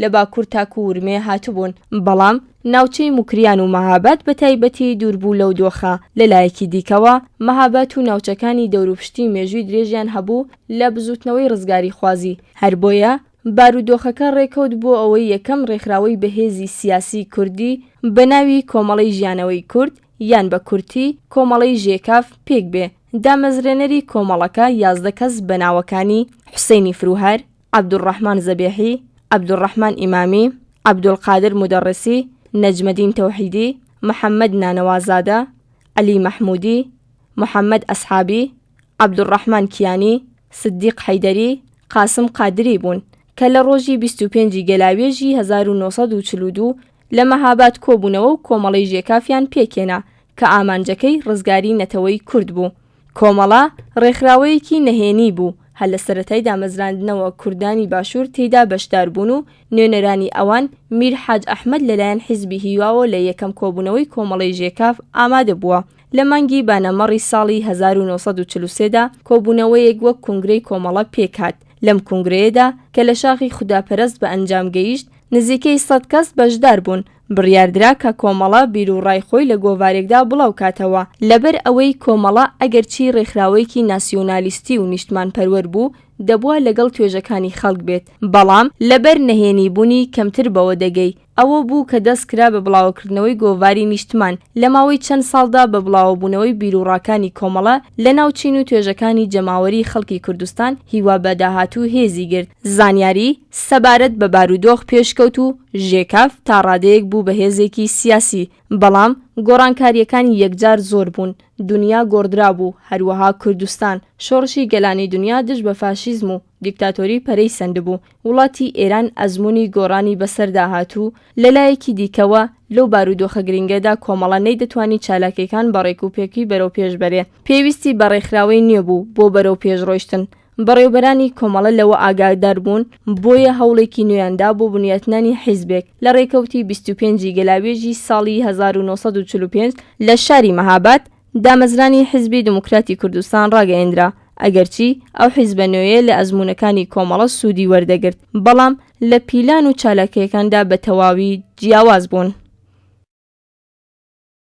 لە باکوور تاکوو ورمێ هاتبوون، بەڵام ناوچەی موکریان و مەهاباد بە تایبەتی دوور بوو لەو دۆخە، لە لایەکی دیکەوە مەهابات و ناوچەکانی دەوروپشتی مێژووی درێژیان هەبوو لە بزووتنەوەی ڕزگاریخوازی، هەر بۆیە بارودۆخەکە ڕێکەوت بۆ ئەوەی یەکەم ڕێکخراوەی بەهێزی سیاسیی کوردی بە ناوی کۆمەڵەی ژیانەوەی کورد یان بە کورتی کۆمەڵەی ژێکاف پێک بێ، دامەزرێنەری کۆمەڵەکە یازدە کەس بە ناوەکانی، حوسەینی فرووهار، عەبدولڕەحمان زەبێحی، عەبدولڕەحمان ئیمامی، عەبدولقادر مودەڕسی، نەجمەدین تەوحیدی، محەممەد نانەوازادە، عەلی مەحموودی، محەممەد ئەسحابی، عەبدولڕەحمان کیانی، سدیق حەیدەری، قاسم قادری بوون کە لە ڕۆژی بیست و پێنج ی گەلاوێژی هەزار و نۆ سەد و چل و دوو لە مەهاباد کۆبوونەوە و کۆمەڵەی ژێکافیان پێکهێنا کە ئامانجەکەی ڕزگاری نەتەوەی کورد بوو. کۆمەڵە، ڕێکخراوەیەکی نەهێنی بوو، هەر لە سەرەتای دامەزراندنەوە کوردانی باشوور تێیدا بەشدار بوون و نوێنەرانی ئەوان میر حاج ئەحمەد لەلایەن حیزبی هیواوە لە یەکەم کۆبوونەوەی کۆمەڵەی ژێکاف ئامادە بووە لە مانگی بانەمەڕی ساڵی هەزار و نۆ سەد و چل و سێ دا کۆبوونەوەیەک وەک کونگرەی کۆمەڵە پێک هات لەم کونگرەیەدا کە لە شاخی خوداپەرەست بە ئەنجام گەیشت نزیکەی سەد کەس بەشدار بوون. بڕیاردرا کە کۆمەڵە بیروڕای خۆی لە گۆڤارێکدا بڵاوکاتەوە، لەبەر ئەوەی کۆمەڵە ئەگەرچی ڕێکخراوەیەکی ناسیونالیستی و نیشتمانپەروەر بوو، دەبوا لەگەڵ توێژەکانی خەڵک بێت، بەڵام لەبەر نەهێنی بونی کەمتر بەوە دەگەی، ئەوە بوو کە دەستکرا بە بڵاوەکردنەوەی گۆڤاری نیشتمان، لە ماوەی چەند ساڵدا بە بڵاوەبونەوەی بیروڕاکانی کۆمەڵە لە ناو چین و توێژەکانی جەماوەری خەڵکی کوردستان هیوا بە داهاتوو هێزی گرت، زانیاری. سەبارەت بە بارودۆخ پێشکەوت و ژێکاف تا ڕادەیەک بوو بە هێزێکی سیاسی، بەڵام گۆڕانکارییەکانی یەکجار زۆر بوون، دونیا گۆڕدرابوو، هەروەها کوردستان، شۆڕشی گەلانی دونیا دژ بە فاشیزم و دیکتاتۆری پەرەی سەندبوو، وڵاتی ئێران ئەزموونی گۆڕانی بەسەردا هات و لە لایەکی دیکەوە لەو بارودۆخە گرنگەدا کۆمەڵە نەیدەتوانی چالاکییەکان بە ڕێکوپێکی بەرەوپێش بەرێ، پێویستی بە ڕێکخراوەی نوێ بوو بۆ بەرەوپێشڕۆیشتن. بەڕێوبەرانی کۆمەڵە لەوە ئاگادار بوون، بۆیە هەوڵێکی نوێیان دا بۆ بنیاتنانی حیزبێک، لە ڕێکەوتی بیست و پێنج ی گەلاوێژی ساڵی هەزار و نۆ سەد و چل و پێنج لە شاری مەهاباد، دامەزرانی حیزبی دموکراتی کوردستان ڕاگەیەندرا، ئەگەرچی ئەو حیزبە نوێیە لە ئەزموونەکانی کۆمەڵە سوودی وەردەگرت، بەڵام لە پیلان و چالاکییەکاندا بە تەواوی جیاواز بوون.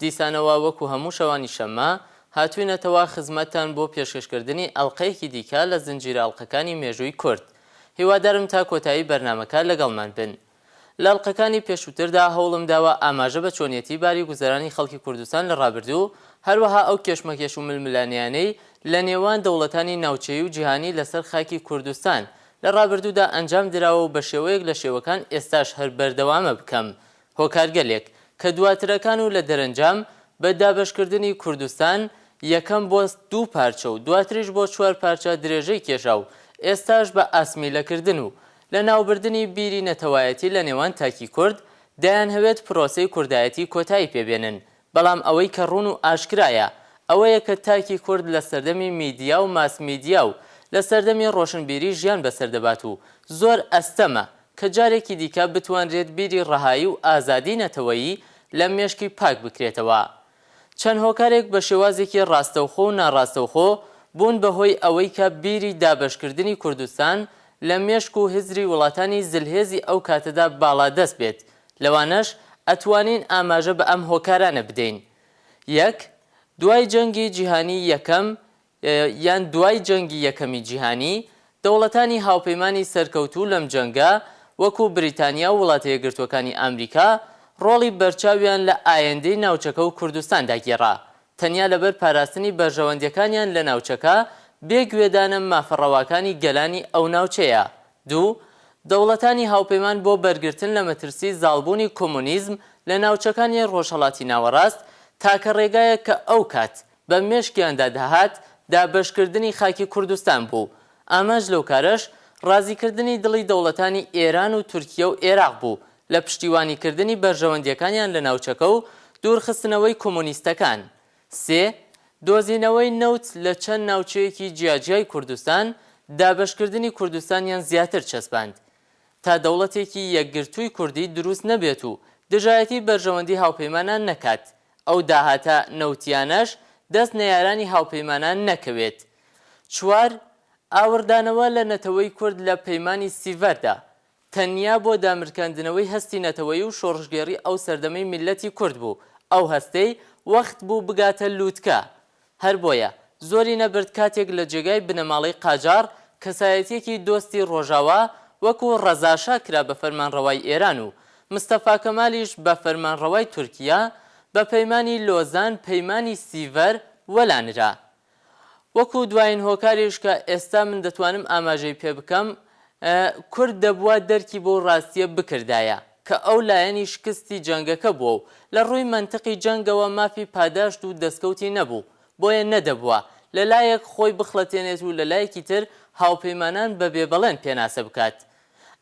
دیسانەوە وەکو هەموو شەوانی شەممە، هاتووینەتەوە خزمەتتان بۆ پێشکەشکردنی ئەڵقەیەکی دیکە لە زنجیرە ئەڵقەکانی مێژووی کورد. هیوادارم تا کۆتایی بەرنامەکە لەگەڵمان بن. لە ئەڵقەکانی پێشووتردا هەوڵم داوە ئاماژە بە چۆنیەتی باری گوزەرانی خەڵکی کوردستان لە ڕابردوو، هەروەها ئەو کێشمەکێش و ململانێیانەی لە نێوان دەوڵەتانی ناوچەیی و جیهانی لەسەر خاکی کوردستان لە ڕابردوودا ئەنجام دراوە و بە شێوەیەک لە شێوەکان ئێستاش هەر بەردەوامە بکەم هۆکارگەلێک کە دواترەکان و لە دەرەنجام بە دابەشکردنی کوردستان، یەکەم بۆ دوو پارچە و دواتریش بۆ چوار پارچە درێژەی کێشا و ئێستاش بە ئاسمیلەکردن و لەناوبردنی بیری نەتەوایەتی لە نێوان تاکی کورد، دەیانهەوێت پرۆسەی کوردایەتی کۆتایی پێ بێنن، بەڵام ئەوەی کە ڕوون و ئاشکرایە ئەوەیە کە تاکی کورد لە سەردەمی میدیا و ماسمیدیا و لە سەردەمی ڕۆشنبیری ژیان بەسەر دەبات و زۆر ئەستەمە کە جارێکی دیکە بتوانرێت بیری ڕەهایی و ئازادی نەتەوەیی لە مێشکی پاک بکرێتەوە. چەند هۆکارێک بە شێوازێکی ڕاستەوخۆ و ناڕاستەوخۆ بوون بە هۆی ئەوەی کە بیری دابەشکردنی کوردستان لە مێشک و هزری وڵاتانی زلهێزی ئەو کاتەدا باڵادەست بێت لەوانەش ئەتوانین ئاماژە بە ئەم هۆکارانە بدەین یەک دوای جەنگی جیهانی یەکەم یان دوای جەنگی یەکەمی جیهانی، دەوڵەتانی هاوپەیمانی سەرکەوتوو لەم جەنگە، وەکو بریتانیا و وڵاتە یەکگرتووەکانی ئامریکا، ڕۆڵی بەرچاویان لە ئایندەی ناوچەکە و کوردستاندا گێڕا، تەنیا لەبەر پاراستنی بەرژەوەندیەکانیان لە ناوچەکە، بێ گوێدانە مافە ڕەواکانی گەلانی ئەو ناوچەیە. دوو، دەوڵەتانی هاوپەیمان بۆ بەرگرتن لە مەترسی زاڵبوونی کۆمۆنیزم لە ناوچەکانی ڕۆژهەڵاتی ناوەڕاست، تاکە ڕێگایەک کە ئەو کات، بە مێشکیاندا دەهات دابەشکردنی خاکی کوردستان بوو، ئامانج لەو کارەش ڕازیکردنی دڵی دەوڵەتانی ئێران و تورکیە و ئێراق بوو لە پشتیوانیکردنی بەرژەوەندیەکانیان لە ناوچەکە و دوورخستنەوەی کۆمۆنیستەکان. سێ. دۆزینەوەی نەوت لە چەند ناوچەیەکی جیاجیای کوردستان، دابەشکردنی کوردستانیان زیاتر چەسپاند تا دەوڵەتێکی یەکگرتووی کوردی دروست نەبێت و دژایەتی بەرژەوەندی هاوپەیمانان نەکات ئەو داهاتە نەوتییانەش دەست نەیارانی هاوپەیمانان نەکەوێت. چوار، ئاوڕدانەوە لە نەتەوەی کورد لە پەیمانی سیڤەردا، تەنیا بۆ دامرکاندنەوەی هەستی نەتەوەیی و شۆڕشگێڕی ئەو سەردەمەی میللەتی کورد بوو، ئەو هەستەی وەخت بوو بگاتە لووتکە. هەر بۆیە زۆری نەبرد کاتێک لە جێگای بنەماڵەی قاجاڕ کەسایەتیەکی دۆستی ڕۆژاوا وەکو ڕەزاشا کرا بە فەرمانڕەوای ئێران و مستەفا کەمالیش بە فەرمانڕەوای تورکیا بە پەیمانی لۆزان پەیمانی سیڤەر وەلا نرا وەکو دوایین هۆکاریش کە ئێستا من دەتوانم ئاماژەی پێ بکەم کورد دەبوا دەرکی بەو ڕاستیە بکردایە. کە ئەو لایەنی شکستی جەنگەکە بووە و لە ڕووی مەنتقی جەنگەوە مافی پاداشت و دەستکەوتی نەبوو، بۆیە نەدەبوا لە لایەک خۆی بخڵەتێنێت و لە لایەکی تر هاوپەیمانان بە بێ بەڵێن پێناسە بکات.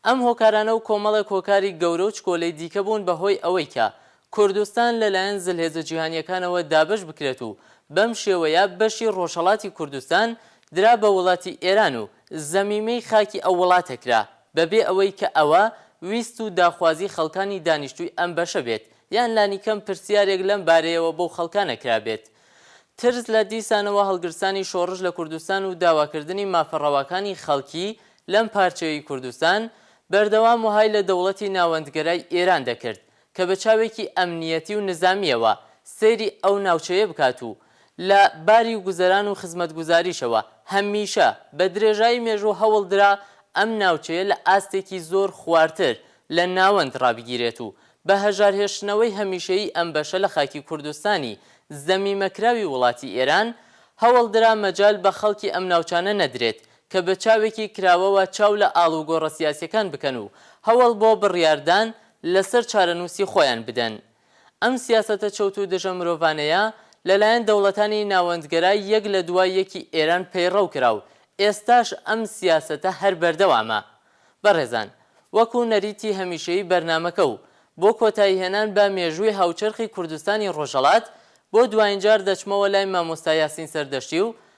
ئەم هۆکارانە و کۆمەڵێک هۆکاری گەورە و چکۆلەی دیکە بوون بە هۆی ئەوەی کە کوردستان لە لایەن زلهێزە جیهانییەکانەوە دابەش بکرێت و بەم شێوەیە بەشی ڕۆژهەڵاتی کوردستان درا بە وڵاتی ئێران و زەمیمەی خاکی ئەو وڵاتە کرا. بەبێ ئەوەی کە ئەوە ویست و داخوازی خەڵکانی دانیشتووی ئەم بەشە بێت یان لانیکەم پرسیارێک لەم بارەیەوە بەو خەڵکانە کرابێت. ترس لە دیسانەوە هەڵگرسانی شۆڕش لە کوردستان و داواکردنی مافە ڕەواکانی خەڵکی لەم پارچەیەی کوردستان، بەردەوام وەهای لە دەوڵەتی ناوەندگەرای ئێران دەکرد کە بە چاوێکی ئەمنییەتی و نزامییەوە سەیری ئەو ناوچەیە بکات و لە باری گوزەران و خزمەتگوزاریشەوە هەمیشە بە درێژایی مێژوو هەوڵ درا ئەم ناوچەیە لە ئاستێکی زۆر خوارتر لە ناوەند ڕابگیرێت و بە هەژارهێشتنەوەی هەمیشەیی ئەم بەشە لە خاکی کوردستانی زەمیمەکراوی وڵاتی ئێران هەوڵ درا مەجال بە خەڵکی ئەم ناوچانە نەدرێت کە بە چاوێکی کراوەوە چاو لە ئاڵوگۆڕە سیاسیەکان بکەن و هەوەڵ بۆ بڕیاردان لە سەر چارەنووسی خۆیان بدەن. ئەم سیاسەتە چەوت و دژە مرۆڤانەیە لە لایەن دەوڵەتانی ناوەندگەرا یەک لە دوای یەکی ئێران پەیڕەو کرا و ئێستاش ئەم سیاسەتە هەر بەردەوامە. بەڕێزان وەکوو نەریتی هەمیشەیی بەرنامەکە و بۆ کۆتایی هێنان بە مێژووی هاوچەرخی کوردستانی ڕۆژهەڵات بۆ دوایین جار دەچمەوە لای مامۆستا یاسین سەردەشتی و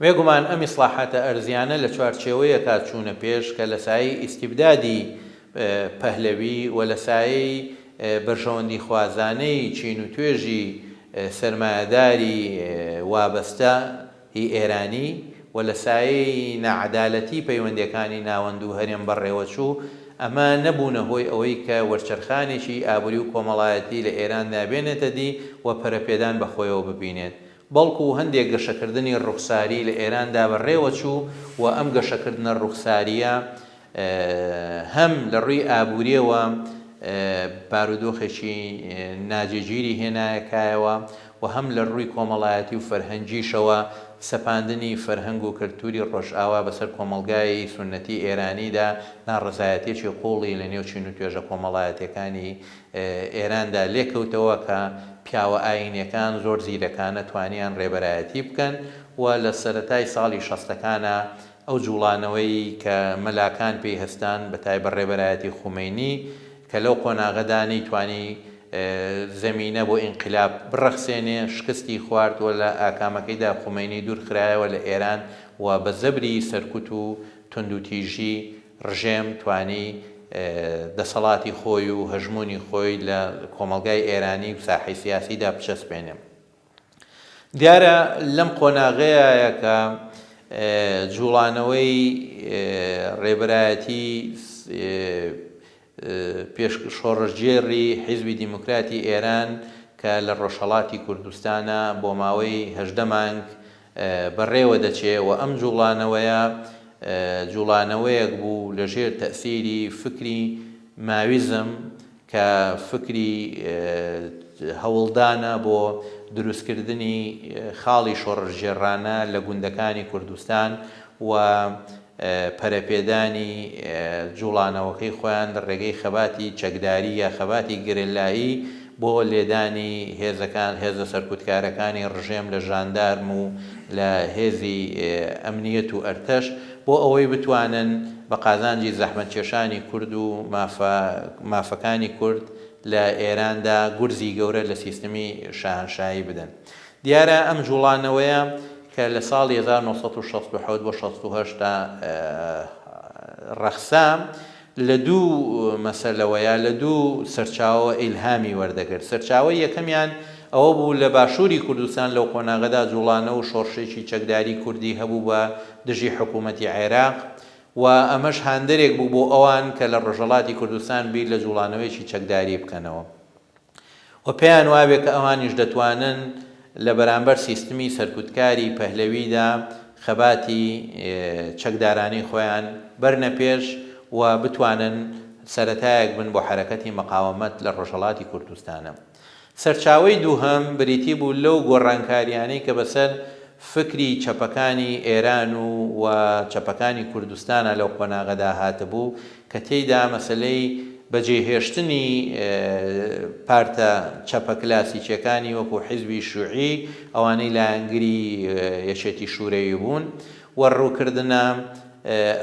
بێگومان ئەم ئیسڵاحاتە ئەرزیانە لە چوارچێوەیەکا چوونە پێش کە لە سایەی ئیستیبدادی پەهلەوی و لە سایەی بەرژەوەندیخوازانەی چین و توێژی سەرمایەداری وابەستە ی ئێرانی و لە سایەی ناعەدالەتی پەیوەندێکانی ناوەند و هەرێم بەڕێوەچوو، ئەمە نەبوونە هۆی ئەوەی کە وەرچەرخانێکی ئابووری و کۆمەڵایەتی لە ئێراندا بێنێتە دی و پەرەپێدان بە خۆیەوە ببینێت بەڵکو هەندێک گەشەکردنی ڕوخساری لە ئێراندا بەڕێوەچوو و ئەم گەشەکردنە ڕوخسارییە هەم لە ڕووی ئابوورییەوە بارودۆخێکی ناجێگیری هێنایەکایەوە و هەم لە ڕووی کۆمەڵایەتی و فەرهەنگیشەوە سەپاندنی فەرهەنگ و کەلتووری ڕۆژئاوا بەسەر کۆمەڵگای سوننەتی ئێرانیدا ناڕەزایەتییەکی قووڵی لە نێو چین و توێژە کۆمەڵایەتییەکانی ئێراندا لێکەوتەوە کە پیاوە ئایینیەکان زۆر زیرەکانە توانیان ڕێبەرایەتی بکەن و لە سەرەتای ساڵی شەستەکانا ئەو جوڵانەوەی کە مەلاکان پێی هەستان بە تایبەت ڕێبەرایەتی خومەینی کە لەو قۆناغەدا نەیتوانی زەمینە بۆ ئینقلاب بڕەخسێنێ شکستی خوارد و لە ئاکامەکەیدا خومەینی دوور خرایەوە لە ئێران و بە زەبری سەرکوت و توندوتیژی ڕژێم توانی دەسەڵاتی خۆی و هەژموونی خۆی لە کۆمەڵگای ئێرانی و ساحەی سیاسیدا بچەسپێنێ. دیارە لەم قۆناغەیایە کە جووڵانەوەی ڕێبەرایەتی شۆڕشگێڕی حیزبی دیموکراتی ئێران کە لە ڕۆژهەڵاتی کوردستانە بۆ ماوەی هەژدە مانگ بەڕێوە دەچێ و ئەم جووڵانەوەیە جووڵانەوەیەک بوو لە ژێر تەئسیری فکری ماویزم کە فکری هەوڵدانە بۆ دروستکردنی خاڵی شۆڕشگێڕانە لە گوندەکانی کوردستان و پەرەپێدانی جوڵانەوەکەی خۆیان لە ڕێگەی خەباتی چەکداری یا خەباتی گەریلایی بۆ لێدانی هێزەکان هێزە سەرکوتکارەکانی ڕژێم لە ژاندارم و لە هێزی ئەمنیەت و ئەرتەش بۆ ئەوەی بتوانن بە قازانجی زەحمەتکێشانی کورد و مافە مافەکانی کورد لە ئێراندا گورزی گەورە لە سیستمی شاهەنشایی بدەن. دیارە ئەم جووڵانەوەیە کە لە ساڵی هەزار و نۆ سەد و شەست و حەوت بۆ شەست و هەشت دا ڕەخسا، لە دوو مەسەلەوە یا لە دوو سەرچاوەوە ئیلهامی وەردەگرت. سەرچاوەی یەکەمیان ئەوە بوو لە باشووری کوردستان لەو قۆناغەدا جووڵانەوە و شۆڕشێکی چەکداری کوردی هەبوو بە دژی حکوومەتی عێراق و ئەمەش هاندەرێک بوو بۆ ئەوان کە لە ڕۆژهەڵاتی کوردستان بیر لە جووڵانەوەیەکی چەکداری بکەنەوە. و پێیان وابێ کە ئەوانیش دەتوانن لە بەرامبەر سیستمی سەرکوتکاری پەهلەویدا خەباتی چەکدارانەی خۆیان بەرنە پێش و بتوانن سەرەتایەک بن بۆ حەرەکەتی مقاومەت لە ڕۆژهەڵاتی کوردستانە. سەرچاوەی دووهەم بریتی بوو لەو گۆڕانکاریانەی کە بەسەر فکری چەپەکانی ئێران و و چەپەکانی کوردستانا لەو قۆناغەدا هاتبوو، کە تێیدا مەسەلەی بەجێهێشتنی پارتە چەپە کلاسیکیەکانی وەکو حیزبی شوعی ئەوانەی لایەنگری یەکێتی شورەوی بوون و رووکردنە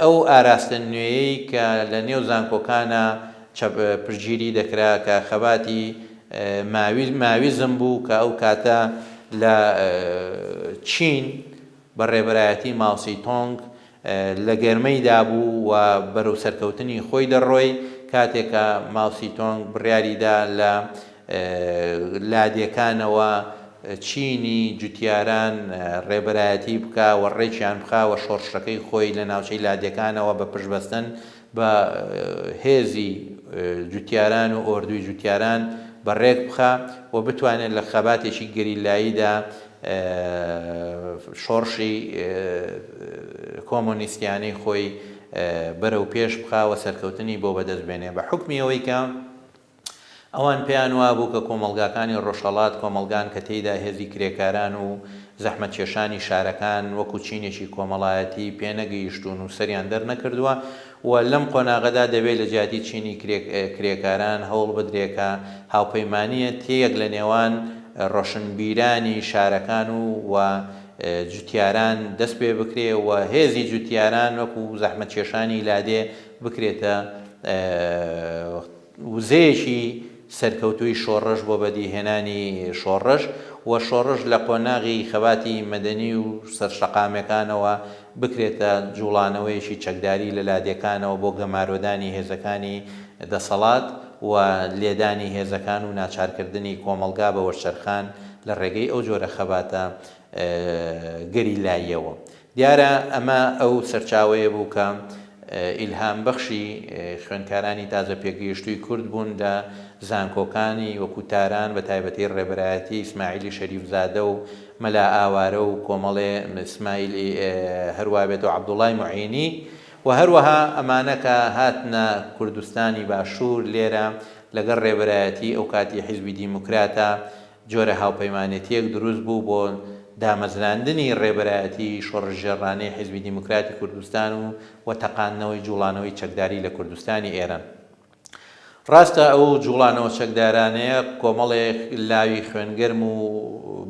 ئەو ئاراستە نوێیەی کە لە نێو زانکۆکانا چەپ پشتگیری دەکرا کە خەباتی ماویزم بوو کە ئەو کاتە لە چین بە ڕێبەرایەتی ماوسی تۆنگ لە گەرمەی دابوو و بەرەو سەرکەوتنی خۆی دەڕۆی کاتێک کە ماوسی تۆنگ بڕیاری دا لە لادێکانەوە چینی جوتیاران ڕێبەرایەتی بکا و ڕێکیان بخا و شۆڕشەکەی خۆی لە ناوچەی لادێکانەوە بە پشتبەستن با هێزی جوتیاران و ئۆردوی جوتیاران بە رێک بخا و بتوانێت لە خەباتێکی گەریلاییدا شۆڕشی کۆمۆنیستیانەی خۆی بەرەو پێش بخا و سەرکەوتنی بۆ بەدەست بێنێ بە حوکمی ئەوەی کە ئەوان پێیان وابوو کە کۆمەڵگاکانی ڕۆژهەڵات کۆمەڵگان کە تێیدا هێزی کرێکاران و زەحمەتکێشانی شارەکان وەکو چینێکی کۆمەڵایەتی پێنەگەیشتوون و سەریان دەرنەکردووە و لەم قۆناغەدا دەبێ لە جیاتی چینی کرێکاران هەوڵ بدرێ کە هاوپەیمانییە تێیەک لە نێوان ڕۆشنبیرانی شارەکان و جوتیاران دەست پێ بکرێ و هێزی جوتیاران وەکو زەحمەتکێشانی لادێ بکرێتە وزەیەکی سەرکەوتووی شۆڕش بۆ بەدیهێنانی شۆڕش و شۆڕش لە قۆناغی خەباتی مەدەنی و سەرشەقامەکانەوە بکرێتە جووڵانەوەیەکی چەکداری لە لادێکانەوە بۆ گەمارۆدانی هێزەکانی دەسەڵات و لێدانی هێزەکان و ناچارکردنی کۆمەڵگا بە وەرچەرخان لە ڕێگەی ئەو جۆرە خەباتە گەریلاییەوە دیارە ئەمە ئەو سەرچاوەیە بوو کە ئیلهام بەخشی خوێندکارانی تازە پێگەیشتووی کورد بوون لە زانکۆکانی وەکوو تاران بە تایبەتی ڕێبەرایەتی ئیسماعیلی شەریف زادە و مەلا ئاوارە و کۆمەڵێ سمایل ی هەروا بێت و عەبدوڵای موعینی و هەروەها ئەمانە کە هاتنە کوردستانی باشوور لێرە لەگەڵ ڕێبەرایەتی ئەوکاتی حیزبی دیموکراتە جۆرە هاوپەیمانێتییەک دروست بوو بۆ دامەزراندنی ڕێبەرایەتی شۆڕشگێڕانەی حیزبی دیموکراتی کوردستان و و تەقاندنەوەی جووڵانەوەی چەکداری لە کوردستانی ئێران. ڕاستە ئەو جووڵانەوە چەکدارانەیە کۆمەڵێک لاوی خوێنگەرم و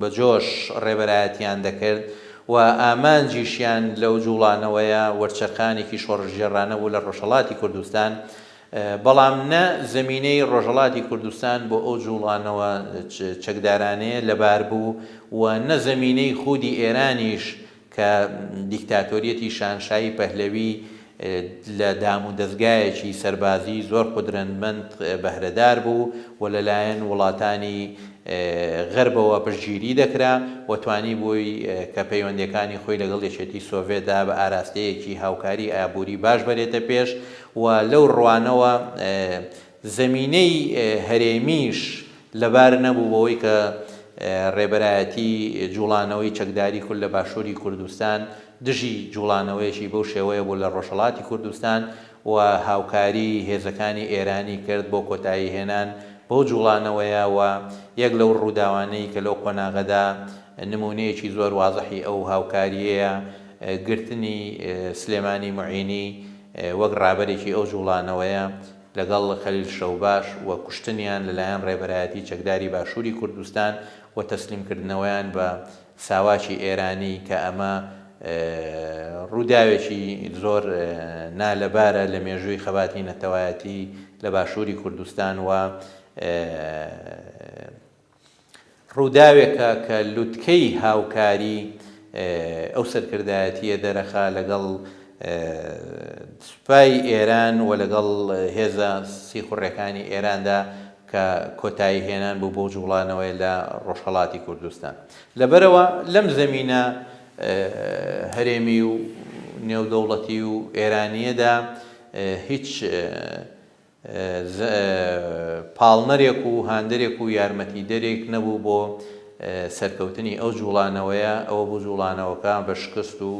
بەجۆش ڕێبەرایەتییان دەکرد و ئامانجیشیان لەو جووڵانەوەیە وەرچەرخانێکی شۆڕشگێڕانە بوو لە ڕۆژهەڵاتی کوردستان بەڵام نە زەمینەی ڕۆژهەڵاتی کوردستان بۆ ئەو جووڵانەوە چەکدارانەیە لەبار بوو و نە زەمینەی خودی ئێرانیش کە دیکتاتۆریەتی شانشایی پەهلەوی لە دام و دەزگایەکی سەربازی زۆر قودرەندمەند بەهرەدار بوو و لەلایەن وڵاتانی غەربەوە پشتگیری دەکرا و توانیبووی کە پەیوەندیەکانی خۆی لەگەڵ یەکێتی سۆڤێتدا بە ئاراستەیەکی هاوکاری ئابووری باش بەرێتە پێش و لەو ڕوانەوە زەمینەی هەرێمیش لەبار نەبوو بەوەی کە ڕێبەرایەتی جوڵانەوەی چەکداری کورد لە باشوری کوردستان دژی جوڵانەوەیەکی بەو شێوەیە بوو لە ڕۆژهەڵاتی کوردستان و هاوکاری هێزەکانی ئێرانی کرد بۆ کۆتایی هێنان بەو جوڵانەوەیە و یەک لەو ڕووداوانەی کە لەو قۆناغەدا نموونەیەکی زۆر وازحی ئەو هاوکاریەیە گرتنی سلێمانی موعینی وەک ڕابەرێکی ئەو جوڵانەوەیە لەگەڵ خەلیل شەوباش و کوشتنیان لەلایەن ڕێبەرایەتی چەکداری باشوری کوردستان و تەسلیم کردنەوەیان بە ساواکی ئێرانی کە ئەمە ڕوداوێکی زۆر نالەبارە لە مێژوی خەباتی نەتەوایەتی لە باشوری کوردستان و ڕووداوێکە کە لوتکەی هاوکاری ئەو سەرکردایەتییە دەرەخا لەگەڵ سوپای ئێران و لەگەڵ هێزە سیخوڕێکانی ئێراندا کە کۆتایی هێنان بوو بەو جوڵانەوەی لە ڕۆژهەڵاتی کوردستان لەبەرەوە لەم زەمینە هەرێمی و نێودەوڵەتی و ئێرانیەدا هیچ پاڵنەرێک و هاندەرێک و یارمەتیدەرێک نەبوو بۆ سەرکەوتنی ئەو جوڵانەوەیە، ئەوە بوو جوڵانەوەکە بە شکست و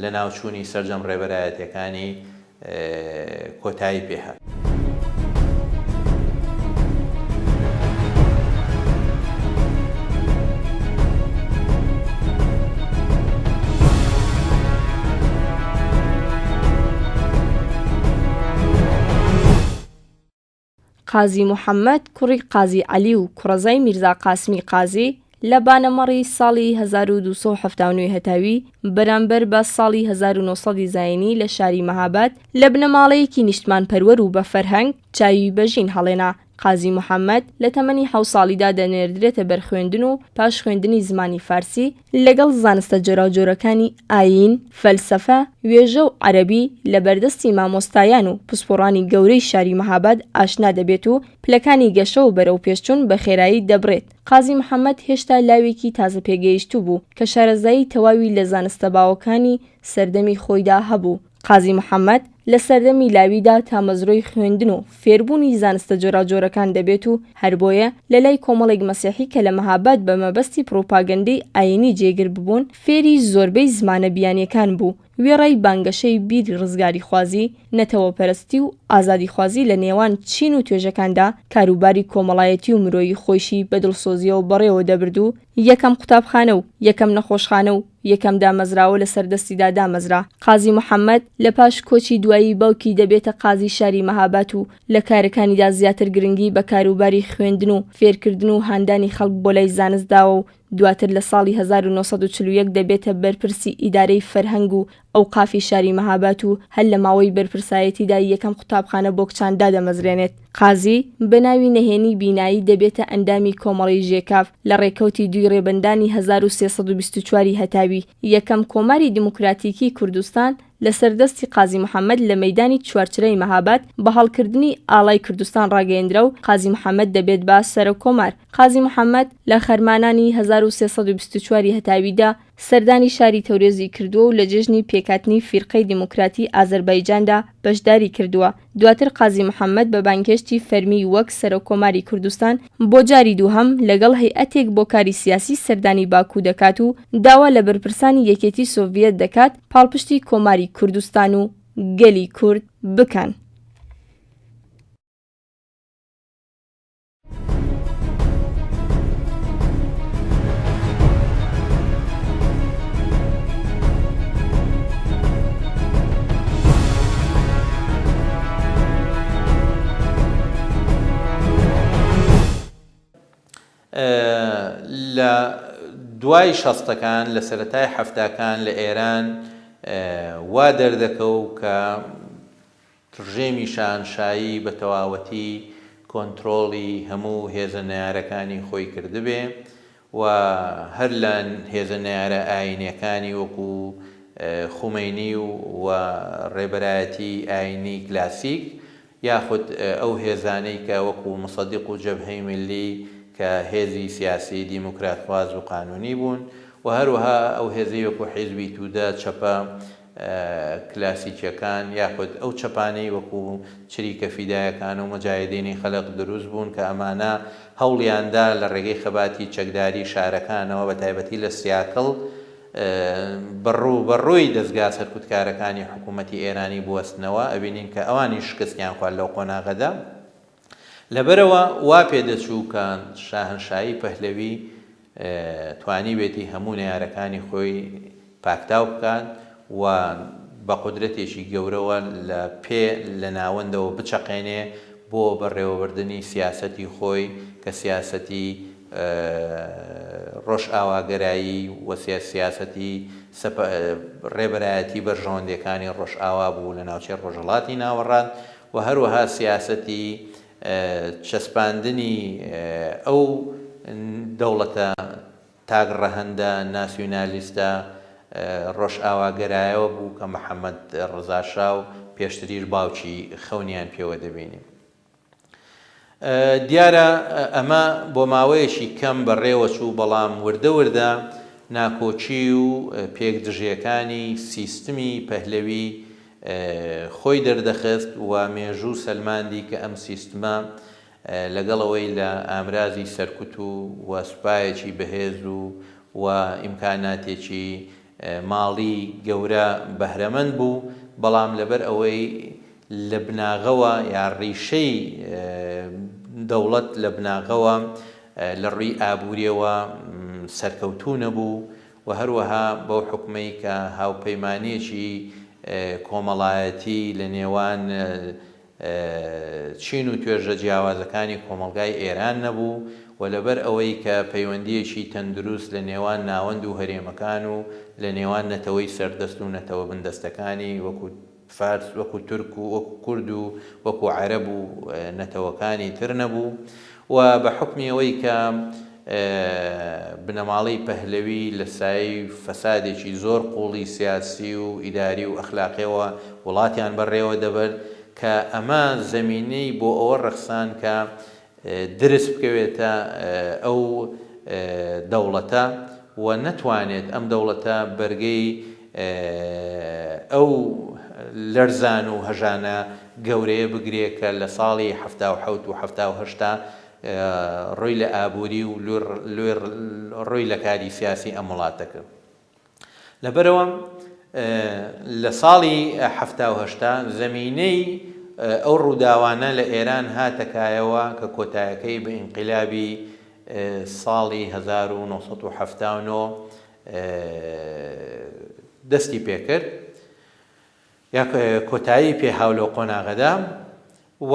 لەناوچوونی سەرجەم ڕێبەرایەتیەکانی کۆتایی پێهات. قازی محەممەد کوڕی قازی عەلی و کوڕەزای میرزا قاسمی قازی لە بانەمەڕی ساڵی 1279 هەتاوی بەرامبەر بە ساڵی 1970 زایینی لە شاری مەهاباد لە بنەماڵەیەکی نیشتمان پەروەر و بە فەرهەنگ چاوی بەژین هەڵێنا قازی محەممەد لە تەمەنی حەوت ساڵیدا دەنێردرێتە بەر خوێندن و پاش خوێندنی زمانی فارسی، لەگەڵ زانستە جۆراوجۆرەکانی ئایین، فەلسەفە، وێژە و عەرەبی لە بەردەستی مامۆستایان و پسپۆڕانی گەورەی شاری مەهاباد ئاشنا دەبێت و پلەکانی گەشە و بەرەوپێشچوون بە خێرایی دەبڕێت. قازی محەممەد هێشتا لاوێکی تازەپێگەیشتوو بوو کە شارەزایی تەواوی لە زانستە باوەکانی سەردەمی خۆیدا هەبوو. قازی محەمەد لە سەردەمی لاویدا تامەزرۆی خوێندن و فێربوونی زانستە جۆراوجۆرەکان دەبێت و هەر بۆیە لە لای کۆمەڵێک مەسیحی کە لە مەهاباد بە مەبەستی پڕوپاگەندەی ئایینی جێگر ببوون فێری زۆربەی زمانە بیانییەکان بوو، وێڕای بانگەشەی بیری ڕزگاریخوازی، نەتەوەپەرستی و ئازادیخوازی لە نێوان چین و توێژەکاندا کاروباری کۆمەڵایەتی و مرۆیی خۆیشی بە دڵسۆزییەوە بەڕێوە دەبرد و یەکەم قوتابخانە و یەکەم نەخۆشخانە و یەکەم دامەزراوە لەسەر دەستیدا دامەزرا. قازی محەمەد لە پاش کۆچی دوایی باوکی دەبێتە قازی شاری مەهاباد و لە کارەکانیدا زیاتر گرنگی بە کاروباری خوێندن و فێرکردن و هاندانی خەڵک بۆ لای زانست داوە و دواتر لە ساڵی هەزار و نۆ سەد و چل و یەک دەبێتە بەرپرسی ئیدارەی فەرهەنگ و ئەوقافی شاری مەهاباد و هەر لە ماوەی بەرپرسایەتیدا یەکەم قوتابخانە بۆ کچان دادەمەزرێنێت. قازی، بە ناوی نەهێنی بینایی دەبێتە ئەندامی کۆمەڵەی ژێکاف لە ڕێکەوتی دووی ڕێبەندانی هەزار و سێ سەد و بیست و چوار ی هەتاوی، یەکەم کۆماری دیموکراتیکی کوردستان لەسەر دەستی قازی محەمەد لە مەیدانی چوارچرای مەهاباد بە هەڵکردنی ئاڵای کوردستان ڕاگەیەندرا و قازی محەمەد دەبێت بە سەرۆککۆمار. قازی محەمەد لە خەرمانانی هەزار و سێ سەد و بیست و چوار ی هەتاویدا، سەردانی شاری تەورێزی کردووە و لە جێژنی پێکهاتنی فیرقەی دیموکراتی ئازەربایجاندا بەشداری کردووە، دواتر قازی محەممەد بە بانگهێشتی فەرمی وەک سەرۆککۆماری کوردستان بۆ جاری دووهەم لەگەڵ هەیئەتێک بۆ کاری سیاسی سەردانی باکوو دەکات و داوا لە بەرپرسانی یەکێتی سۆڤیەت دەکات پاڵپشتی کۆماری کوردستان و گەلی کورد بکەن. لە دوای شەستەکان لە سەرەتای حەفتاکان لە ئێران وا دەردەکەو کە ڕژێمی شاهەنشایی بە تەواوەتی کۆنترۆڵی هەموو هێزە نەیارەکانی خۆی کردبێ و هەر لە هێزە نەیارە ئایینیەکانی وەکو خومەینی و ڕێبەرایەتی ئایینی کلاسیک یاخود ئەو هێزانەی کە وەکو موسەدیق و جەبهەی میللی کە هێزی سیاسی دیموکراتخواز و قانونی بوون و هەروەها ئەو هێزەی وەکو حیزبی تودە، چەپە، کلاسیکیەکان یاخود ئەو چەپانەی وەکو چریکە فیدایەکان و موجاهیدینی خەلق دروست بوون کە ئەمانە هەوڵیان دا لە ڕێگەی خەباتی چەکداری شارەکانەوە بە تایبەتی لە سیاکڵ بە ڕوو بە ڕووی دەزگا سەرکوتکارەکانی حکوومەتی ئێرانی بوەستنەوە ئەبینین کە ئەوانیش شکستیان خوارد لەو قۆناغەدا. لەبەرئەوە وا پێدەچوو کە شاهەنشایی پەهلەوی توانیبێتی هەموو نەیارەکانی خۆی پاکتاو بکات و بە قودرەتێکی گەورەوە لە پێ لە ناوەندەوە بچەقێنێ بۆ بەڕێوەبردنی سیاسەتی خۆی کە سیاسەتی ڕۆژئاواگەرایی و سیاسەتی ڕێبەرایەتی بەرژەوەندیەکانی ڕۆژئاوا بوو لە ناوچەی ڕۆژهەڵاتی ناوەڕاست و هەروەها سیاسەتی چەسپاندنی ئەو دەوڵەتە تاک ڕەهەندە ناسیونالیستە ڕۆژئاواگەرایەوە بوو کە محەمەد ڕزا شا و پێشتریش باوکی خەونیان پێوە دەبینی. دیارە ئەمە بۆ ماوەیەکی کەم بەڕێوەچوو، بەڵام وردە وردە ناکۆکی و پێک دژیەکانی سیستمی پەهلەوی خۆی دەردەخست و مێژوو سەلماندی کە ئەم سیستمە لەگەڵ ئەوەی لە ئامرازی سەرکوت و سوپایەکی بەهێز و ئیمکاناتێکی ماڵی گەورە بەهرەمەند بوو، بەڵام لەبەر ئەوەی لە بناغەوە یا ڕیشەی دەوڵەت لە بناغەوە لە ڕووی ئابوورییەوە سەرکەوتوو نەبوو و هەروەها بەو حوکمەی کە هاوپەیمانییەکی کۆمەڵایەتی لە نێوان چین و توێژە جیاوازەکانی کۆمەڵگای ئێران نەبوو و لەبەر ئەوەی کە پەیوەندییەکی تەندروست لە نێوان ناوەند و هەرێمەکان و لە نێوان نەتەوەی سەردەست و نەتەوە بندەستەکانی وەکو فارس وەکو تورک و وەکو کورد و وەکو عەرەب و نەتەوەکانی تر نەبوو و بە حوکمی ئەوەی کە بنەماڵەی پەهلەوی لە سایەی فەسادێکی زۆر قووڵی سیاسی و ئیداری و ئەخلاقییەوە وڵاتیان بەڕێوە دەبرد کە ئەمە زەمینەی بۆ ئەوە ڕەخساند کە درز بکەوێتە ئەو دەوڵەتە و نەتوانێت ئەم دەوڵەتە بەرگەی ئەو لەرزان و هەژانە گەورەیە بگرێ کە لە ساڵی حەفتا و حەوت و حەفتا و هەشتا روی لە ئابوری و روی لە کاری سیاسی ئەم وڵاتە کرد لەبەرئەوە لە ساڵی حەفتا و هەشتا زەمینەی ئەو ڕووداوانە لە ئێران هاتەکایەوە کە کۆتایەکەی بە ئینقلابی ساڵی 1970 دەستی پێکرد یا کۆتایی پێ هاو لەو قۆناغەدا و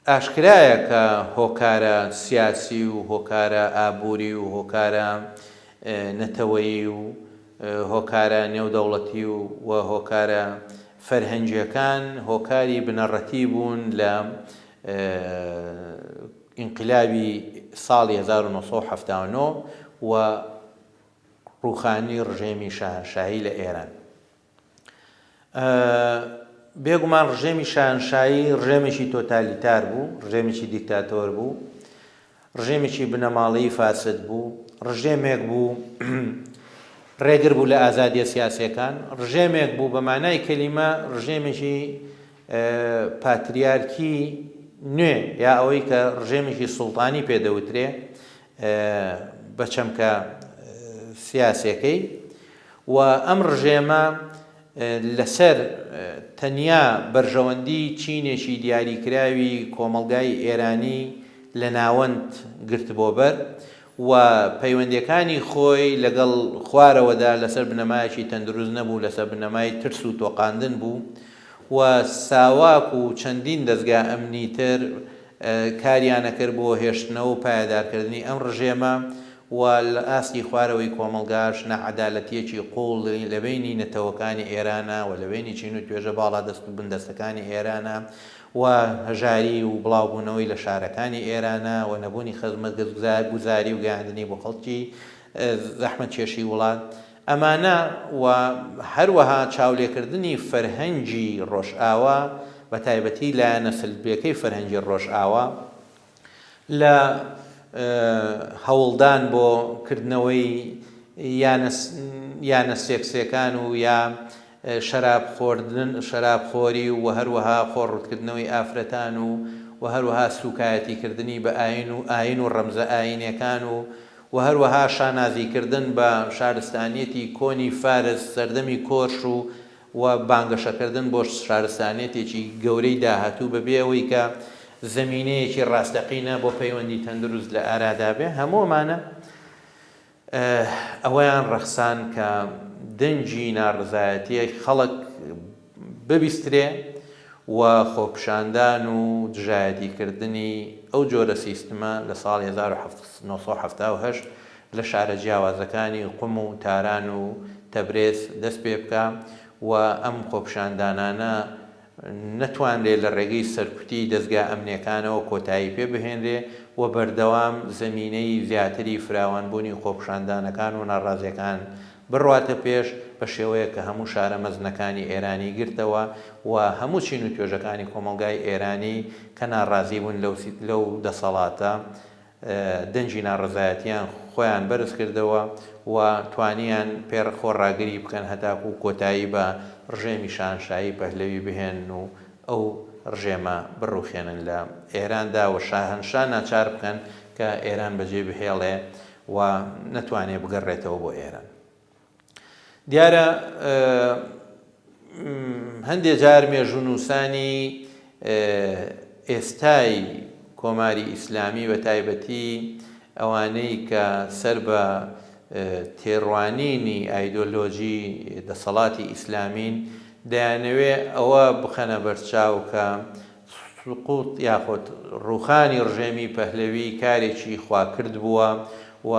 ئاشکرایە کە هۆکارە سیاسی و هۆکارە ئابووری و هۆکارە نەتەوەیی و هۆکارە نێودەوڵەتی و و هۆکارە فەرهەنگیەکان هۆکاری بنەڕەتی بوون لە ئینقلابی ساڵی هەزار و نۆ سەد و حەفتا و نۆ و ڕووخانی ڕژێمی شاهەنشاهی لە ئێران. بێگومان ڕژێمی شاهەنشاهی ڕژێمێکی تۆتالیتار بوو، ڕژێمێکی دیکتاتۆر بوو، ڕژێمێکی بنەماڵەیی فاسد بوو، ڕژێمێک بوو ڕێگر بوو لە ئازادیە سیاسیەکان، ڕژێمێک بوو بە مانای کەلیمە ڕژێمێکی پاتریارکی نوێ یا ئەوەی کە ڕژێمێکی سوڵتانی پێ دەوترێ بە چەمکە سیاسەکەی و ئەم ڕژێمە لەسەر تەنیا بەرژەوەندی چینێکی دیاریکراوی کۆمەڵگای ئێرانی لە ناوەند گرت بۆ بەر و پەیوەندەکانی خۆی لەگەڵ خوارەوەدا لەسەر بنەمایەکی تەندروست نەبوو لەسەر بنەمای ترس و تۆقااندن بوو و ساواک و چەندین دەزگا ئەمنی تر کاریانەکرد بۆ هێشتنەوە و پایەدارکردنی ئەم ڕژێمە و لە ئاستی خوارەوەی کۆمەڵگاش ناعەدالەتیەکی قوڵ لە بەینی نەتەوەکانی ئێرانە و لە بەینی چین و توێژە باڵادەست و بندەستەکانی ئێرانە و هەژاری و بڵاوبوونەوەی لە شارەکانی ئێرانە و نەبوونی خزمەتگوزاری و گەیاندنی بۆ خەڵکی زەحمەتکێشی وڵات ئەمانە و هەروەها چاولێکردنی فەرهەنگی ڕۆژئاوا بە تایبەتی لایەنە سلبیەکەی فەرهەنگی ڕۆژئاوا لە هەوڵدان بۆ کردنەوەی یانە یانە سێکسیەکان و یا شەراب خۆردن شەراب خۆری و هەروەها خۆڕوتکردنەوەی ئافرەتان و و هەروەها سوکایەتی کردنی بە ئاین و ئاین و ڕەمزە ئاینەکان و و هەروەها شانازیکردن بە شارستانیەتی کۆنی فارس، سەردەمی کۆرش و و بانگەشەکردن بۆ شارستانیەتێکی گەورەی داهاتوو بەبێ ئەوەی کە زەمینەیەکی ڕاستەقینە بۆ پەیوەندی تەندروست لە ئارادا بێ، هەموو ئەمانە ئەوەیان ڕەخساند کە دەنگی ناڕەزایەتیی خەڵک، ببیسترێ و خۆپیشاندان و دژایەتیکردنی ئەو جۆرە سیستمە لە ساڵی هەزار و حەفت سەد و حەفتا و هەشت لە شارە جیاوازەکانی قوم و تاران و تەبرێز دەست پێ بکا و ئەم خۆپیشاندانانە نەتوانرێ لە ڕێگەی سەرکوتی دەزگا ئەمنیەکانەوە کۆتایی پێ بهێنرێ و بەردەوام زەمینەی زیاتری فراوانبوونی خۆپیشاندانەکان و ناڕازیەکان بڕواتە پێش، بە شێوەیەک کە هەموو شارە مەزنەکانی ئێرانی گرتەوە و هەموو چین و توێژەکانی کۆمەڵگای ئێرانی کە ناڕازی بوون لەو لەو دەسەڵاتە دەنگی ناڕەزایەتییان خۆیان بەرز کردەوە و توانییان پێڕ خۆڕاگری بکەن هەتاکوو کۆتایی بە ڕژێمی شاهەنشاهی پەهلەوی بهێنن و ئەو ڕژێمە بڕووخێنن لە ئێراندا و شاهەنشا ناچار بکەن کە ئێران بەجێ بهێڵێ و نەتوانێت بگەڕێتەوە بۆ ئێران دیارە هەندێ جار مێژونووسانی ئێستای کۆماری ئیسلامی بە تایبەتی ئەوانەی کە سەر بە تێڕوانینی ئایدۆلۆژی دەسەڵاتی ئیسلامین دەیانەوێ ئەوە بخەنە بەرچاو کە سقوط یاخود ڕووخانی ڕژێمی پەهلەوی کارێکی خواکرد بووە و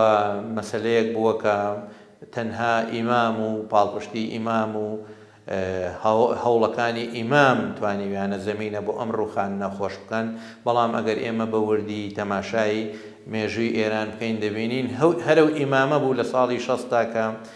مەسەلەیەک بووە کە تەنها ئیمام و پاڵپشتی ئیمام و هەوڵەکانی ئیمام توانیویانە زەمینە بۆ ئەم ڕووخانە خۆش بکەن، بەڵام ئەگەر ئێمە بە وردی تەماشای مێژووی ئێران بکەین دەبینین هەرەو ئیمامە بوو لە ساڵی شەستدا کە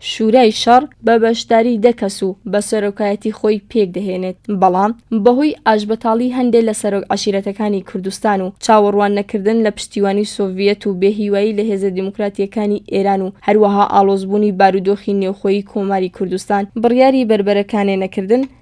شورای شەڕ بە بەشداری دە کەس و بە سەرۆکایەتی خۆی پێکدەهێنێت، بەڵام بەهۆی ئاشبەتاڵی هەندێ لە سەرۆک عەشیرەتەکانی کوردستان و چاوەڕوان نەکردن لە پشتیوانی سۆڤیەت و بێ هیوایی لە هێزە دیموکراتییەکانی ئێران و هەروەها ئاڵۆزبوونی بارودۆخی نێوخۆیی کۆماری کوردستان بڕیاری بەربەرەکانێ نەکردن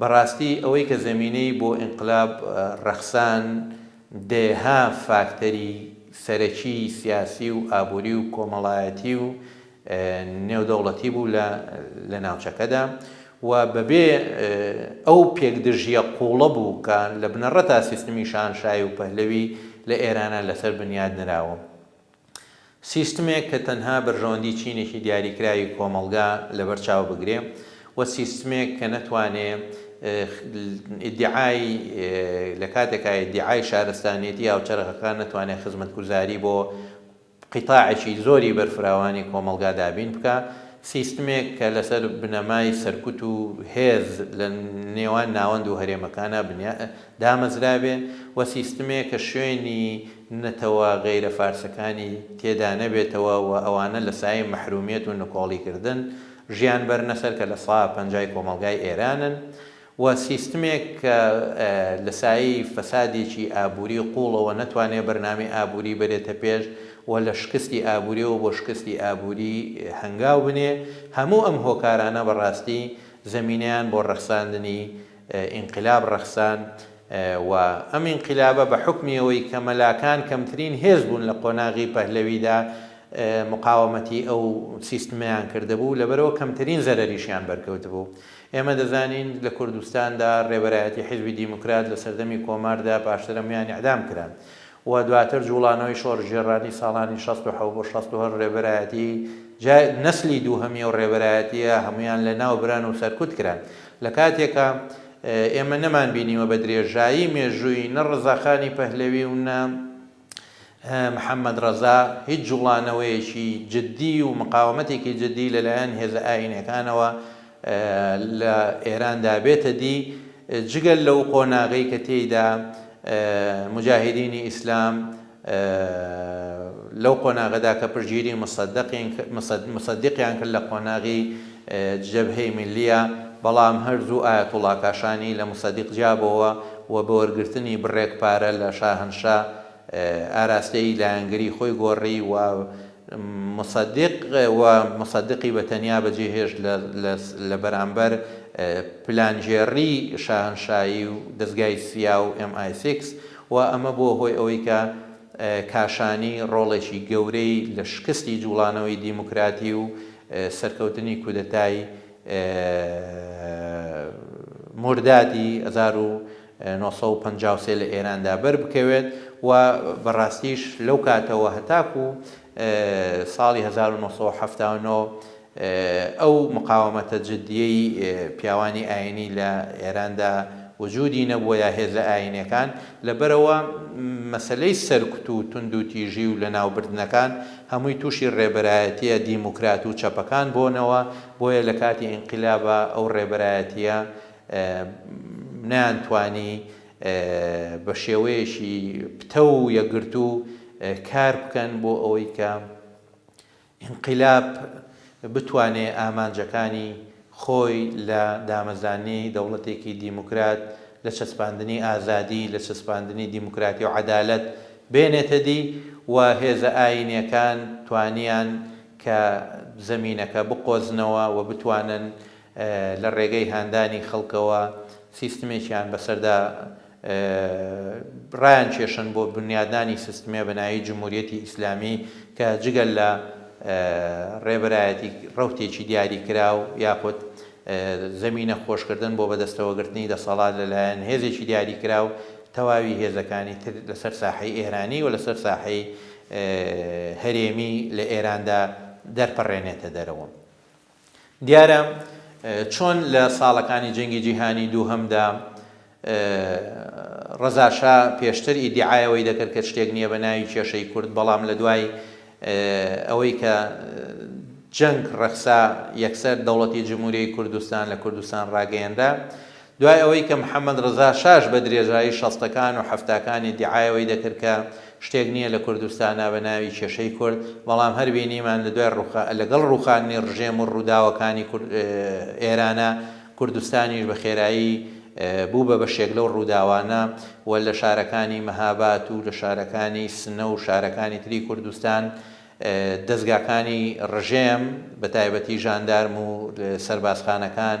بەڕاستی ئەوەی کە زەمینەی بۆ ئینقلاب ڕەخسان دەیەها فاکتەری سەرەکی سیاسی و ئابووری و کۆمەڵایەتی و نێودەوڵەتی بوو لە لە ناوچەکەدا و بەبێ ئەو پێکدژییە قووڵە بوو کە لە بنەڕەتا سیستمی شاهنشاهی و پەهلەوی لە ئێرانا لەسەر بنیات نراوە. سیستمێک کە تەنها بەرژەوەندی چینێکی دیاریکراوی کۆمەڵگا لەبەر چاو بگرێ و سیستمێک کە نەتوانێ ئیدعای لە کاتێکا ئیدعای شارستانیەتی هاوچەرخەکان نەتوانێ خزمەتگوزاری بۆ قیتاعێکی زۆری بەرفراوانی کۆمەڵگا دابین بکا، سیستمێک کە لەسەر بنەمای سەرکوت و هێز لە نێوان ناوەند و هەرێمەکانا بنیا دامەزرابێ و سیستمێک کە شوێنی نەتەوە غەیرە فارسەکانی تێدا نەبێتەوە و ئەوانە لە سایەی مەحرومیەت و نکۆڵیکردن ژیان بەرنە سەر کە لە سا پەنجای کۆمەڵگای ئێرانن و سیستمێک کە لە سایەی فەسادێکی ئابووری قووڵەوە نەتوانێت بەرنامەی ئابووری بەرێتە پێش و لە شکستی ئابووریەوە بۆ شکستی ئابووری هەنگاو بنێ، هەموو ئەم هۆکارانە بە ڕاستی زەمینەیان بۆ ڕەخساندنی ئینقلاب ڕەخسان و ئەم ئینقلابە بە حوکمی ئەوەی کە مەلاکان کەمترین هێز بوون لە قۆناغی پەهلەویدا مقاوەمەتی ئەو سیستمەیان کردبوو لەبەرئەوە کەمترین زەرەریشیان بەرکەوتبوو ئێمە دەزانین لە کوردستاندا رێبەرایەتی حیزبی دیموکرات لە سەردەمی کۆماردا پاشترەمویان ئیعدام کران و دواتر جووڵانەوەی شۆرشگێڕانی ساڵانی شەست و حەوت بۆ شەست و هەشت رێبەرایەتی جا نەسلی دووهەمی ئەو رێبەرایەتییە هەموویان لەناو بران و سەرکوت کران لە کاتێکا ئێمە نەمانبینیوە بە درێژایی مێژووی نە رزاخانی پەهلەوی و نە محەممەد ڕەزا هیچ جووڵانەوەیەکی جددی و مقاوەمەتێکی جددی لەلایەن هێزە ئایینییەکانەوە لە ئێراندا بێتە دی، جگە لەو قۆناغەی کە تێیدا موجاهیدینی ئیسلام لەو قۆناغەدا کە پشتگیری موسەددیقیان کرد لە قۆناغی جەبهەی میللیە، بەڵام هەر زوو ئایەتوڵا کاشانی لە موسەدیق جیابۆوە و بە وەرگرتنی بڕێک پارە لە شاهەنشا ئاراستەی لایەنگری خۆی گۆڕی و موسەدیق و موسەدیقی بە تەنیا بەجێ هێشت لە بەرامبەر پلانگێڕی شاهەنشایی و دەزگای سیا و ئێم ئای سیکس و ئەمە بووە هۆی ئەوەی کە کاشانی ڕۆڵێکی گەورەی لە شکستی جووڵانەوەی دیموکراتی و سەرکەوتنی کودەتای موردادی هەزار و نۆ سەد و پەنجا و سێ لە ئێراندا بەربکەوێت و بەڕاستیش لەو کاتەوە هەتاکوو ساڵی هەزار و نۆ سەد و حەفتا و نۆ ئەو مقاومەتە جدیەی پیاوانی ئاینی لە ئێراندا وجودی نەبووە یا هێزە ئاینێکان لەبەرئەوە مەسەلەی سەرکوت و توندوتیژی و لەناوبردنەکان هەمووی تووشی ڕێبەرایەتیە دیموکرات و چەپەکان بۆنەوە بۆیە لەکاتی ئینقلابا ئەو ڕێبەرایەتیە نەیانتوانی بە شێوەیەکی پتەو و یەکگرتوو کار بکەن بۆ ئەوەی کە ئینقلاب بتوانێ ئامانجەکانی خۆی لە دامەزراننی دەوڵەتێکی دیموکرات، لە چەسپاندنی ئازادی، لە چەسپاندنی دیموکراتی و عەدالەت بێنێتە دی و هێزە ئایینیەکان توانیان کە زەمینەکە بقۆزنەوە و بتوانن لە ڕێگەی هاندانی خەڵکەوە سیستمێکیان بەسەردا ڕایانکێشن بۆ بنیادنانی سیستمێ بە ناوی جمهوریەتی ئیسلامی کە جگە لە ڕێبەرایەتی ڕەوتێکی دیاری کراو یاخود زەمینە خۆشکردن بۆ بەدەستەوەگرتنی دەسەڵات لەلایەن هێزێکی دیاری کراو تەواوی هێزەکانی تر لەسەر ساحەی ئێرانی و لەسەر ساحەی هەرێمی لە ئێراندا دەرپەڕێنێتە دەرەوە. دیارە چۆن لە ساڵەکانی جەنگی جیهانی دووهەمدا ڕەزا شا پێشتر ئیدیعای ئەوەی دەکرد کە شتێک نییە بە ناوی کێشەی کورد، بەڵام لە دوای ئەوەی کە جەنگ ڕەخسا یەکسەر دەوڵەتی جمهوریی کوردستان لە کوردستان ڕاگەیەنرا. دوای ئەوەی کە محەمەد ڕزا شاش بە درێژایی شەستەکان و حەفتاکان ئیدیعای ئەوەی دەکرد کە شتێک نییە لە کوردستانا بە ناوی کێشەی کورد، بەڵام هەر بینیمان لە دوای ڕووخا لەگەڵ ڕووخاندنی ڕژێم و ڕووداوەکانی کورد ئێرانا، کوردستانیش بە خێرایی بوو بە بەشێک لەو ڕووداوانە و لە شارەکانی مەهاباد و لە شارەکانی سنە و شارەکانی تری کوردستان دەزگاکانی ڕژێم بە تایبەتی ژاندارم و سەربازخانەکان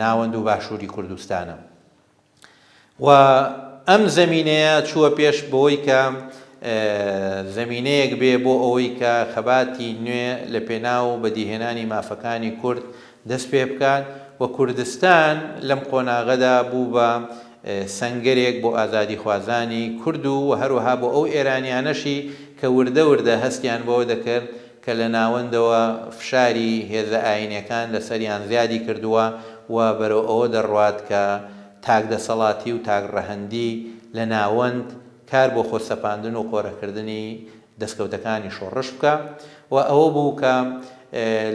ناوەند و باشووری کوردستانە و ئەم زەمینەیە چووە پێش بەوەی کە زەمینەیەک بێ بۆ ئەوەی کە خەباتی نوێ لە پێناو بەدیهێنانی مافەکانی کورد دەست پێ بکات و کوردستان لەم قۆناغەدا بوو بە سەنگەرێک بۆ ئازادی خوازانی کورد و هەروەها بۆ ئەو ئێرانیانەشی کە وردە وردە هەستیان بەوە دەکرد کە لە ناوەندەوە فشاری هێزە ئایینیەکان لەسەریان زیادی کردووە و بەرەو ئەوە دەڕوات کە تاک دەسەڵاتی و تاک ڕەهەندی لە ناوەند کار بۆ خۆ سەپاندن و قۆرەکردنی دەسکەوتەکانی شۆڕش بکا و ئەوە بوو کە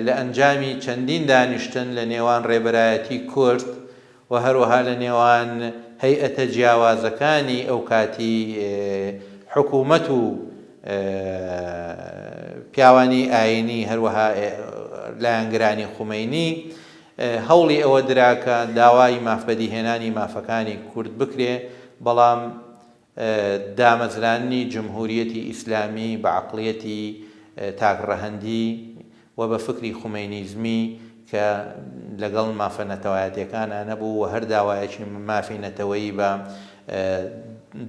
لە ئەنجامی چەندین دانیشتن لە نێوان ڕێبەرایەتی کورد و هەروەها لە نێوان هەیئەتە جیاوازەکانی ئەوکاتی حکوومەت و پیاوانی ئایینی هەروەها لایەنگرانی خومەینی هەوڵی ئەوە درا کە داوای ماف بەدیهێنانی مافەکانی کورد بکرێ بەڵام دامەزراننی جمهوریەتی ئیسلامی بە عەقڵیەتی تاک ڕەهەندی و بە فکری خومەینیزمی کە لەگەڵ مافە نەتەوایەتیەکانا نەبوو و هەر داوایەکی مافی نەتەوەیی بە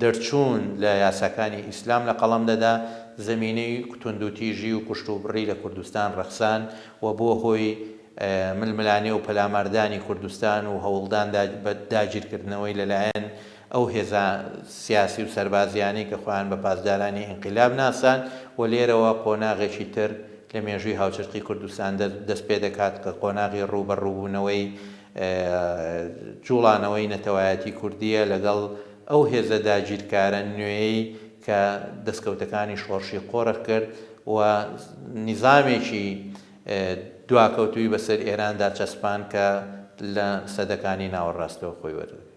دەرچوون لە یاساکانی ئیسلام لە قەڵەم دەدا زەمینەی توندوتیژی و کوشتوبڕی لە کوردستان ڕەخسان و بووە هۆی ململانێ و پەلاماردانی کوردستان و هەوڵدان بە داگیرکردنەوەی لەلایەن ئەو هێزە سیاسی و سەربازییانەی کە خۆیان بە پاسدارانی ئینقیلاب ناساند و لێرەوە قۆناغێکی تر لە مێژووی هاوچەرخی کوردستان دەست پێ دەکات کە قۆناغی ڕووبەڕووبوونەوەی جووڵانەوەی نەتەوایەتی کوردییە لەگەڵ ئەو هێزە داگیرکارە نوێیەی کە دەستکەوتەکانی شۆڕشی قۆرخ کرد و نیزامێکی دواکەوتووی بەسەر ئێراندا چەسپاند کە لە سەدەکانی ناوەڕاستەوە خۆی وەردەگرێت.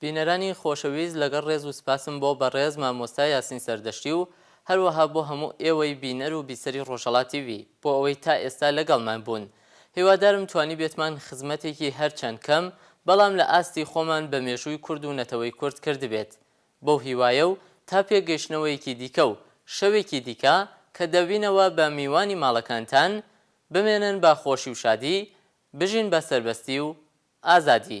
بینەرانی خۆشەویست لەگەڵ ڕێز و سپاسم بۆ بەڕێز مامۆستا یاسین سەردەشتی و هەروەها بۆ هەموو ئێوەی بینەر و بیسەری ڕۆژهەڵات تی ڤی بۆ ئەوەی تا ئێستا لەگەڵمان بوون هیوادارم توانیبێتمان خزمەتێکی هەرچەند کەم بەڵام لە ئاستی خۆمان بە مێژووی کورد و نەتەوەی کورد کردبێت بەو هیوایە و تا پێکگەیشتنەوەیەکی دیکە و شەوێکی دیکە کە دەبینەوە بە میوانی ماڵەکانتان بمێنن بە خۆشی و شادی بژین بە سەربەستی و ئازادی.